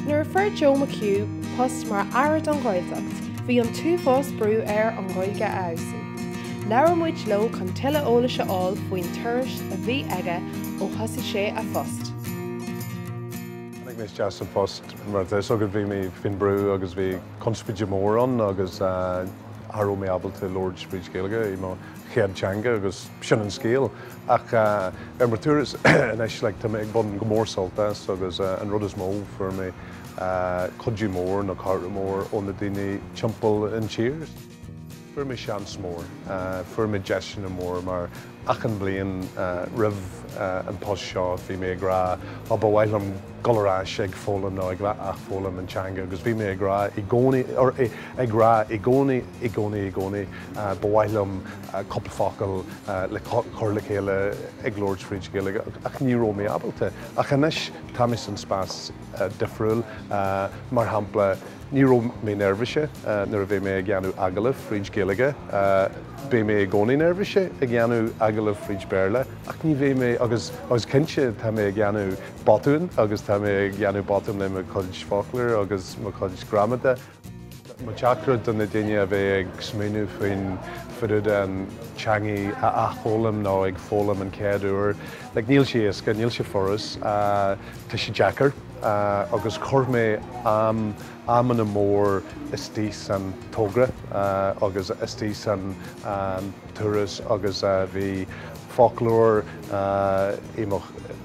Nuair a fuair Joe McHugh post mar Aire don Ghaeltacht, bhí an t-uafás brú air a Ghaeilge a fheabhsú. Labhair muid leis chun tuilleadh eolais a fháil faoin turas a bhí aige ó thosaigh sé a phost. Tháinig mé isteach sa phost mar, tá fhios agat, bhí mé faoin brú agus bhí conspóide mór ann agus. Cha raibh mé ábalta a labhairt fríd Ghaeilge, i mo chéad teanga, agus sin an scéal. Ach ar mo turas anois, like, tá mé ag baint go mór sult as, agus an rud is mó, fuair mé cuidiú mór, nó cairde mór, ó na daoine timpeall an tír. Fuair mé seans mór, fuair mé deiseanna mór, mar Achan bhliain roimh an post seo bhí mé ag rá oh ba mhaith liom dhul ar ais ag foghlaim nó ag athfhoghlaim an teanga agus bhí mé ag rá i gcónaí, or ag rá i gcónaí, i gcónaí, i gcónaí ba mhaith liom cúpla focal le cur le chéile ag labhairt fríd Ghaeilge ach ní raibh mé ábalta ach anois tá mé san spás difriúil mar shampla ní raibh mé neirbhíseach nuair a bheidh mé ag dhéanamh agallaimh fríd Ghaeilge, Beidh mé i gcónaí neirbhíseach ag dhéanamh agallamh fríd Béarla ach ní bheidh mé, agus agus cinnte tá mé ag dhéanamh botúin agus tá mé ag dhéanamh botúin le mo chuid foclóir agus mo chuid gramada. Mo teachtaireacht do na daoine a bheidh ag smaoineamh faoin faoi dtaobh den teangaidh a athfhoghlaim nó ag foghlaim an chéad uair, like níl sé éasca, níl sé furas, tá sé deacair agus chuir mé am, amanna mór istigh san togra agus istigh san turas agus bhí foclóir in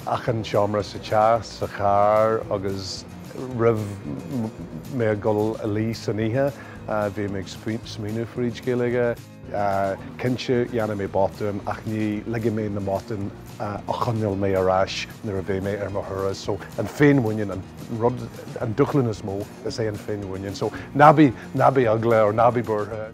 achan seomra sa teach, sa charr agus roimh mé a dhul a luí san oíche bhí mé ag smaoineamh fríd Gaeilge. Cinnte, dhéanfaidh mé botúin, ach ní ligfidh mé na botúin a choinneáil mé ar ais nuair a bheidh mé ar mo thuras. So, an féinmhuinín, an rud, an dúshlán is mó, is é an féinmhuinín. So, ná bí, ná bí eagla or ná bí buartha.